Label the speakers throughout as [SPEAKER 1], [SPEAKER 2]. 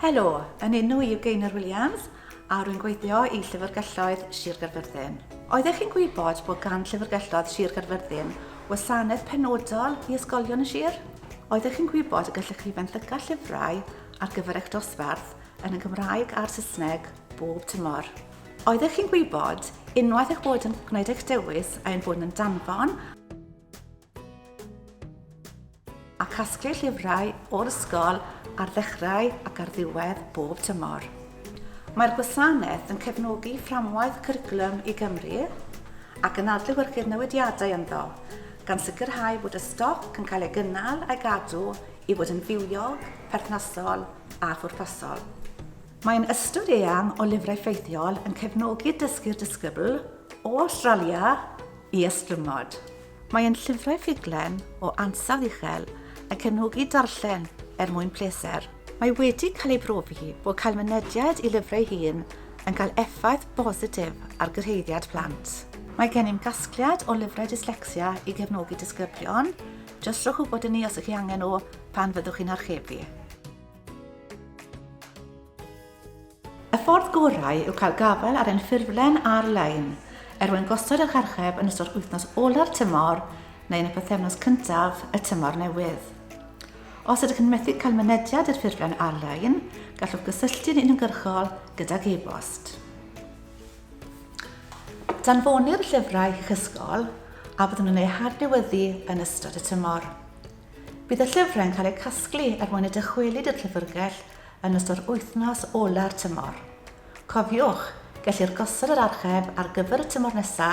[SPEAKER 1] Helo, yn enw i yw Gaynor Williams a rwy'n gweithio i Llyfrgelloedd Sir Gaerfyrddin. Oeddech chi'n gwybod bod gan Llyfrgelloedd Sir Gaerfyrddin wasanaeth penodol i ysgolion y sir? Oeddech chi'n gwybod y gallech chi fenthyca llyfrau ar gyfer eich dosbarth yn y Gymraeg a'r Saesneg bob tymor? Oeddech chi'n gwybod, unwaith eich bod yn gwneud eich dewis a ein bod yn danfon a casglu llyfrau o'r ysgol ar ddechrau ac ar ddiwedd bob tymor. Mae'r gwasanaeth yn cefnogi fframwaith cwricwlwm i Gymru ac yn adlewyrchu'r newidiadau ynddo, gan sicrhau bod y stoc yn cael ei gynnal a'i gadw i fod yn fywiog, perthnasol a phwrpasol. Mae'n ystod eang o lyfrau ffeithiol yn cefnogi dysgu'r disgybl, o Awstralia, i ystlumod. Mae yn llyfrau ffuglen o ansawdd uchel yn cefnogi darllen er mwyn pleser. Mae wedi cael ei brofi bod cael mynediad i lyfrau hŷn yn cael effaith bositif ar gyrhaeddiad plant. Mae gennym gasgliad o lyfrau dyslecsia i gefnogi disgyblion, jyst rhowch wybod i ni os ych chi angen nhw pan fyddwch chi'n archebu. Y ffordd gorau yw cael gafael ar ein ffurflen ar-lein er mwyn gosod eich archeb yn ystod wythnos ola'r tymor neu yn y pythefnos cyntaf y tymor newydd. Os ydych yn methu cael mynediad i'r ffurflen ar-lein, gallwch gysylltu'n uniongyrchol gydag e-bost. Danfonir llyfrau i'ch ysgol a fyddwn yn eu hadnewyddu yn ystod y tymor. Bydd y llyfrau'n cael eu casglu er mwyn y dychwelyd i'r llyfrgell yn ystod yr wythnos ola'r tymor. Cofiwch, gellir gosod yr archeb ar gyfer y tymor nesa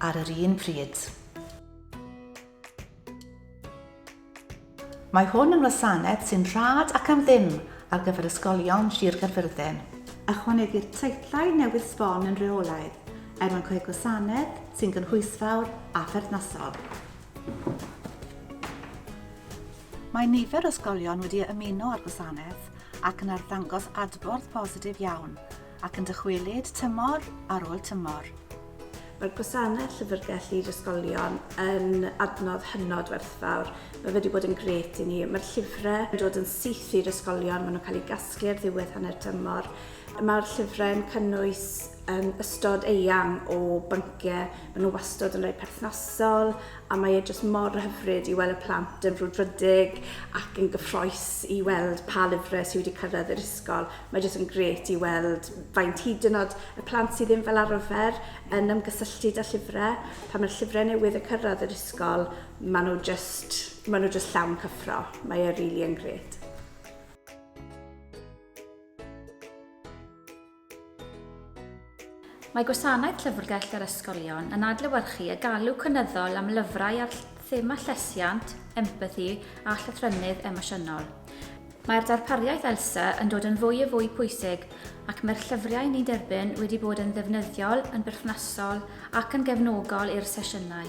[SPEAKER 1] ar yr un pryd. Mae hwn yn wasanaeth sy'n rhad ac am ddim ar gyfer ysgolion Sir Gaerfyrddin. Ychwanegir teitlau newydd sbon yn rheolaidd er mwyn creu gwasanaeth sy'n gynhwysfawr a pherthnasol. Mae nifer o ysgolion wedi ymuno â'r gwasanaeth ac yn arddangos adborth positif iawn ac yn dychwelyd tymor ar ôl tymor. Mae'r
[SPEAKER 2] gwasanaeth Llyfrgell i'r Ysgolion yn adnodd hynod werthfawr. Mae wedi bod yn grêt i ni. Mae'r llyfrau yn dod yn syth i'r ysgolion, maen nhw'n cael eu casglu ar ddiwedd hanner tymor. Mae'r llyfrau yn cynnwys ystod eang o bynciau, maen nhw wastad yn rhai perthnasol a mae e jyst mor hyfryd i weld y plant yn frwdfrydig ac yn gyffroes i weld pa lyfrau sydd wedi cyrraedd yr ysgol. Mae jyst yn gret i weld faint hyd yn oed y plant sydd ddim fel arfer yn ymgysylltu â llyfrau. Pan mae'r llyfrau newydd yn cyrraedd yr ysgol, maen nhw jyst, maen nhw jyst llawn cyffro. Mae e rili yn gret.
[SPEAKER 3] Mae Gwasanaeth Llyfrgell yr Ysgolion yn adlewyrchu y galw cynyddol am lyfrau ar thema llesiant, empathi a llythrynnydd emosiynol. Mae'r darpariaeth ELSA yn dod yn fwy a fwy pwysig ac mae'r llyfriau ni'n derbyn wedi bod yn ddefnyddiol, yn berthnasol ac yn gefnogol i'r sesiynau.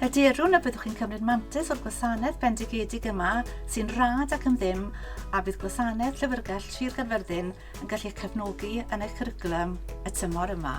[SPEAKER 1] Hyderwn y byddwch chi'n cymryd mantais o'r gwasanaeth bendigedig yma sy'n rhad ac yn ddim a bydd gwasanaeth Llyfrgell Sir Gaerfyrddin yn gallu eich cefnogi yn eich cwricwlwm y tymor yma.